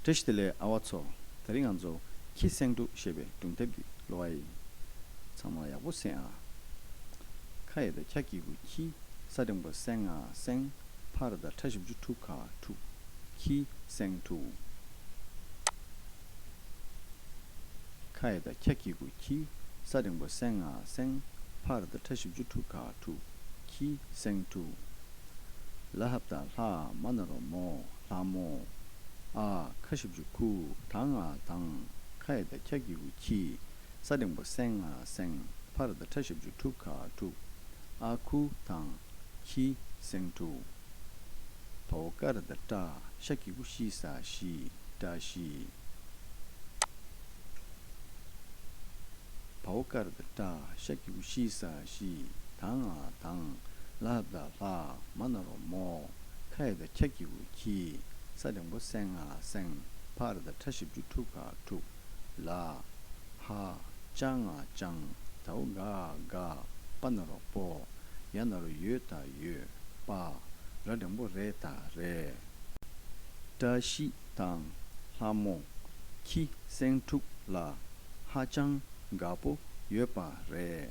བཀྲ་ཤིས་བདེ་ལེགས་ཨ་བ་ཚོ། ད་རིང་ང་ཚོ་ཁྱི་སེང་དྲུག་ཞེས་པའི་སྒྲུང་དེབ་ཀྱི་ལོ་ཨ་ཡི། ཚང་མ་ཡག་པོ་སེང་ཨ། ཁ་ཡེ་ད་ཁྱ་སྐྱིད་གུ་ཁྱི་ས་སྟེང་པ་སེང་ཨ་སེང། ཕ་ར་ད་ཁྲ་བཞི་བཅུ་དྲུག་ཁ་དྲུག་ཁྱི་སེང་དྲུག། ཁ་ཡི་དང་འཁྱག་འཁྱིག་གུ་ཁྱིའི་ས་རིང་པོ་སེང་ང་སེང། ཕར་དང་ཕྲ་བཞི་བཅུ་དྲུག་ཁ་དྲུག་ཁྱི་སེང་དྲུག། ལ་ཧབ་དང་ལྷ་མ་ན་རོ་མོ་ལྷ་མོ། ཨ་ཁ་བཞི་བཅུ་ཁུ་དང་ང་དང། ཁ་ཡི་དང་འཁྱག་འཁྱིག་གུ་ཁྱི། ས་སྟེང་པོ་སེང་ཨ་སེང། ཕ་ར་དང་ཕྲ་ཞབས་ཆུ་ཕྲུག་ཁ་ཕྲུག། ཨ་ཁུ་དང། ཁྱི་སེང་ཕྲུག། བ་བོ་ཀ་ར་དང་བཀྲ་ཤ་ཁྱི་ཁུ་ཤི་ས་ཤི་བཀྲ་ཤི། བ་བོ་ཀ་ར་དང་བཀྲ་ཤ་ཁྱི་ཁུ་ཤི་ས་ཤི་དང་ཨ་དང། ལ་ཧབ་དང་ལྷ་མ་ན་རོ་མོ། ཁ་ཡེ་དང་ཁྱ་ཁྱི་ཁུ་ཁྱི། ས་སྟེང་པོ་སེང་ཨ་སེང། ཕ་ར་དང་ཕྲ་ཞབས་ཆུ་ཕྲུག་ཁ་ཕྲུག། ལ། ཧ། ཅང་ང་ཅང། དྭ་འུ་ག་ག། པ་ན་རོག་པོ། ཡ་ན་རོ་ཡོད་ད་ཡོད། པ། ར་སྒྲེང་པོ་རེ་ད་རེ། བཀྲ་ཤིས་དང། ལྷ་མོ། ཁྱི་སེང་ཕྲུག་ལ། ཧ་ཅང་དགའ་པོ་ཡོད་པ་རེད།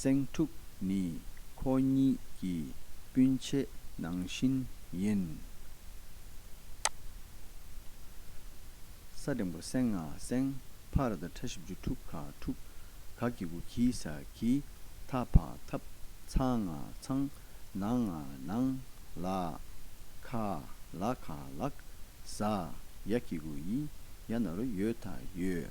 སེང་ཕྲུག་ནི་ཁོ་གཉིས་ཀྱི་སྤུན་མཆེད་ནང་བཞིན་ཡིན། ས་འདྲེན་པོ་སེང་ང་སེང་ཕ་ར་དང་ཕྲ་བཞི་བཅུ་དྲུག་ག་དྲུག་ག་གི་གུ་གི་ས་གི་ཐ་ཕ་ཐབ་ཚ་ང་ཚང་ན་ང་ནང་ལ་ཁ་ལ་ཁ་ལག་ཟ་ཡ་གི་གུ་ཡི་ཡ་ན་རུ་ཡོད་ད་ཡོད།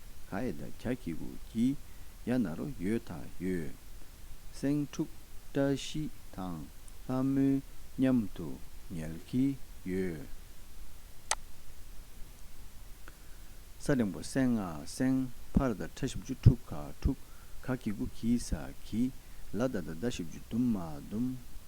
ག་ཨེ་ད་གྱ་གྱི་གུ་གྱི་ཡ་ན་རོ་ཡོད་ད་ཡོད། སེང་ཕྲུག་བཀྲ་ཤིས་དང་ལྷ་མོའི་མཉམ་དུ་ཉལ་གྱི་ཡོད། ས་རིང་པོ་སེང་ང་སེང་ཕར་ད་ཁྲ་བཞི་བཅུ་དྲུག་ག་དྲུག་ག་གྱི་གུ་གྱི་ས་གྱི་ལ་ད་ད་ད་བཞི་བཅུ་དུམ་མ་དུམ།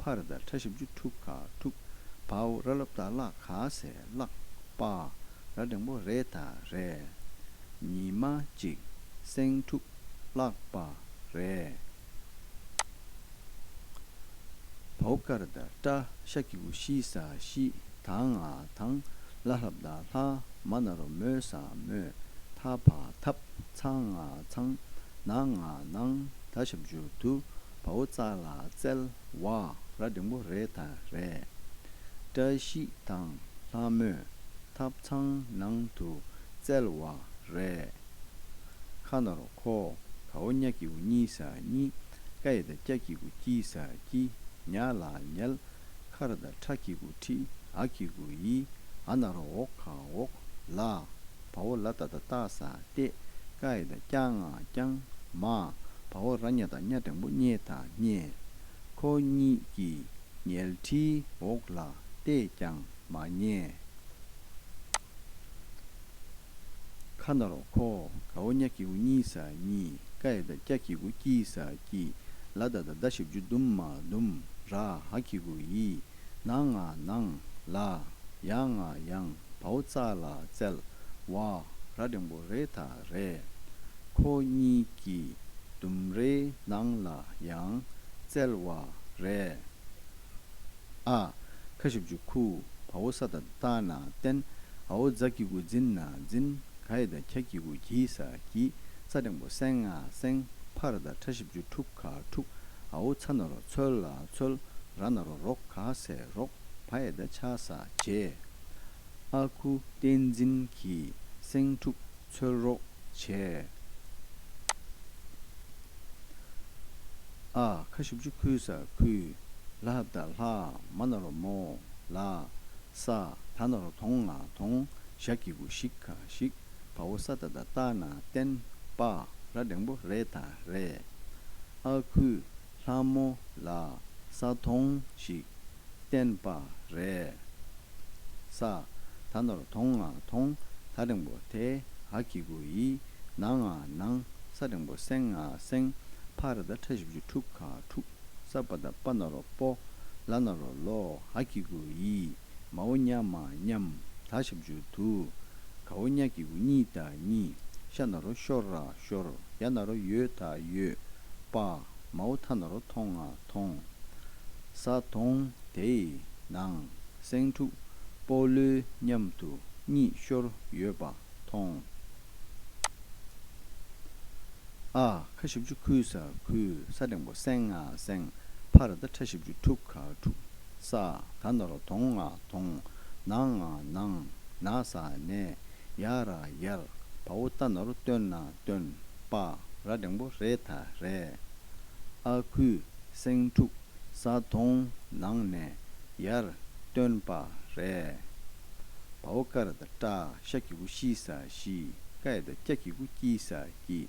ཕ་ར་དང་ཁྲ་ཞབས་ཅུ་ཕྲུག་ག་ཕྲུག། བའོ་ར་ལབ་དང་གླག་ག་ཟས་གླག། པ་ར་འབྲིང་པོ་རས་དང་རས། ཉི་མ་གཅིག་སེང་ཕྲུག་གླག་པ་རས། བའོ་ཀ་ར་དང་ཀྲ་ཤ་ཀི་ཀུ་ཤི་ས་ཤི། དང་ང་དང་ལ་ལྷབ་དང་ལྷ། མ་ན་རོ་མོ་ས་མོ། ཐ་བ་ཐབ་ཚང་ང་ཚང། ན་ང་ནང་ད་ཞབས་ཅུ་དུ། བ་བོ་ཙག་ལ་བཙལ་བ་ར་འབྲིང་པོ་རེ་དང་རེད། བཀྲ་ཤིས་དང་ལྷ་མོས་ཐབ་ཚང་ནང་དུ་བཙལ་བ་རེད། ཁ་ནོར་ཁོ་ག་བོ་གཉའ་གི་གུ་གཉིས་ཟ་གཉིས་ཀ་ཡི་དང་སྐྱ་གི་གུ་སྐྱིད་ཟ་སྐྱིད་ཉལ་ལ་ཉལ་ཁ་ར་དང་ཁྲ་གི་གུ་ཁྲི་ཨ་གི་གུ་ཡི་ཨ་ནར་འོག་ག་འོག་ལ། བ་བོ་ལ་ད་ད་ཏཱ་ས་ཏེ། ཀཱ་ཡི་ད་ཀྱཱ་ང་ཀྱང་མ། བ་བོ་ར་མྱ་ད་མྱ་དང་པོ་མྱེ་ད་མྱེ། ཁོ་གཉིས་ཀྱི་ཉལ་ཁྲིའི་འོག་ལ་ཏས་ཀྱང་མ་མྱེ། ཁ་ན་རོ་ཁོ། ག་བོ་མྱ་ཀྱི་གུ་མྱི་ས་མྱི། ཀ་ཡི་ད་ཀྱ་ཀྱི་གུ་ཀྱི་ས་ཀྱི། ལ་ད་ད་ད་བཞི་བཅུ་དུམ་མ་དུམ་ར་ཧ་ཀྱི་གུ་ཡི། ནང་ང་ནང་ལ། ཡང་ང་ཡང་བའོ་རྩ་ལ་རྩལ། བ་ར་རིང་པོ་རེ་ད་རེ། ཁོ་གཉིས་ཀྱི་ལྡུམ་རའི་ནང་ལ་ཡང་རྩལ། བ་རེ་ཨ། ཁ་ཤུབ་ཅུ་ཁུ་བའོ་ས་ད་ལྟ་ན་བརྟེན། ཨའོ་རྫ་སྐྱི་གུ་འཛིན་ན་འཛིན། ག་ཡི་ད་ཁྱ་སྐྱི་གུ་གྱིས་ས་གྱིས། རྩ་རིང་པོ་སེང་ང་སེང། ཕ་ར་ད་ཕྲ་ཤིབ་ཅུ་ཕྲུག། ཁ་ཕྲུག་ཨའོ་ཚ་ན་རོ་ཚོལ་ལ་ཚོལ་ར་ན་རོ་རོག་ག་སེ་རོག་བ་ཨེ་ད་ཆ་ས་བྱེ། ཨ་ཁུ་བསྟན་འཛིན་གྱིས་སེང་ཕྲུག་ཚོལ་རོག་བྱེ། ཨ་ཁ་བཞི་བཅུ་ཁུལ་ས་ཁུལ་ལ་ད་ལྷག་མ་ན་རོ་མོ་ལ་ས་ད་ན་རོ་དོང་ང་དོང་ཞག་གི་གུ་ཞིག་ག་ཞིག་བ་བོ་ས་ད་ད་རྟ་ན་བརྟེན་པ་ར་སྒྲེང་པོ་རེད་ད་རེད་ཨ་ཁུ་ལྷ་མོ་ལ་ས་དོང་ཞིག་བརྟེན་པ་རེད་ས་ད་ན་རོ་དོང་ང་དོང་ད་སྒྲེང་པོ་དེ་ཨ་ཁི་གུ་ཡི་ན་ང་ནང་ས་སྒྲེང་པོ་སེང་ང་སེང་ཕ་ར་ད་ཕྲ་བཞི་བཅུ་དྲུག་ག་དྲུག། སརྦ་ད་པཱ་ན་རོ་པོ། ལ་ན་རོ་ལོ་ཧ་ཀི་གུ་ཡི། མ་ཨོ་ཉ་མ་མཉམ་ད་ཤབ་ཇུ་དུ། ག་ཨོ་ཉ་ཀི་གུ་གཉིས་ད་གཉིས། ཤ་ན་རོ་ཤོར་ར་ཤོར། ཡ་ན་རོ་ཡོ་ད་ཡོ། པ། མ་ཨོ་ཐ་ན་རོ་ཐོང་ང་ཐོང། ས་དོང་དེ་ཡི་ནང་སེང་ཕྲུག་པོ་ལུས་མཉམ་དུ་གཉིས་ཤོར་ཡོད་པ་མཐོང། ཨ། ཁ་བཞི་བཅུ་ཁུ་སྲ་ཁུ་སྲ་སྒྲེང་པོ་སེང་ང་སེང་ཕ་ར་ད་ཁྲ་བཞི་བཅུ་ཐུག་ཁ་ཐུག་ས་ད་ན་རོ་དོང་ང་དོང་ན་ང་ནང་ན་ས་ནས་ཡ་ར་ཡར་བ་བོ་ད་ན་རོ་སྟོན་ན་སྟོན་པ་ར་སྒྲེང་པོ་རེ་ད་རེ་ཨ་ཁུ་སེང་ཕྲུག་ས་དོང་ནང་ནས་ཡར་སྟོན་པ་རེ། བ་བོ་ཀ་ར་དང་ཏྲ་ཤ་གི་གུ་ཤི་ས་ཤི་ཀ་ཡ་དང་ཀྱ་གི་གུ་ཀྱི་ས་ཀྱི།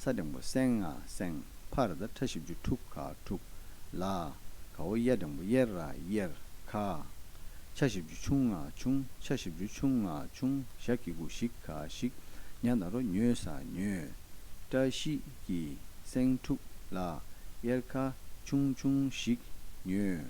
ས་སྦྲེང་བོ་སེང་ང་སེང་ཕ་ར་དང་ཁྲ་བཞི་བཅུ་དྲུག་ག་དྲུག་ལ། ག་བོ་གཡའ་སྦྲེང་བོ་གཡེར་ར་གཡེར་ཁ། ཆ་བཞི་བཅུ་ཆུང་ང་ཆུང་ཆ་བཞི་བཅུ་ཆུང་ང་ཆུང་ཞག་གི་གུ་ཞིག་ག་ཞིག། ཉག་ན་རོ་ཉོས་ས་ཉོས། ཏྲ་ཤི་ཀྱི་སེང་དྲུག་ལ། གཡེར་ཁ་ཆུང་ཆུང་ཞིག་ཉོས།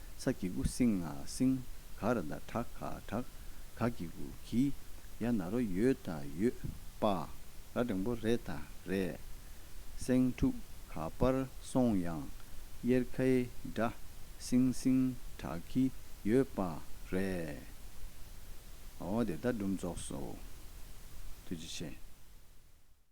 ཚ་གི་གུ་སིང་ང་སིང་ག་ར་ད་གྲག་ག་གྲག་ག་གི་གུ་གི་ཡ་ན་རོ་ཡོད་ད་ཡོད་པ་ར་དྲང་པོ་རེད་ད་རེད། སེང་ཕྲུག་ག་པར་སོང་ཡང་གཡེར་ཁའི་སྒྲ་སིང་སིང་གྲག་གི་ཡོད་པ་རེད། འོ་དེ་ད་སྒྲུབ་རྫོགས་སོ། ཐུགས་རྗེ་ཆེ།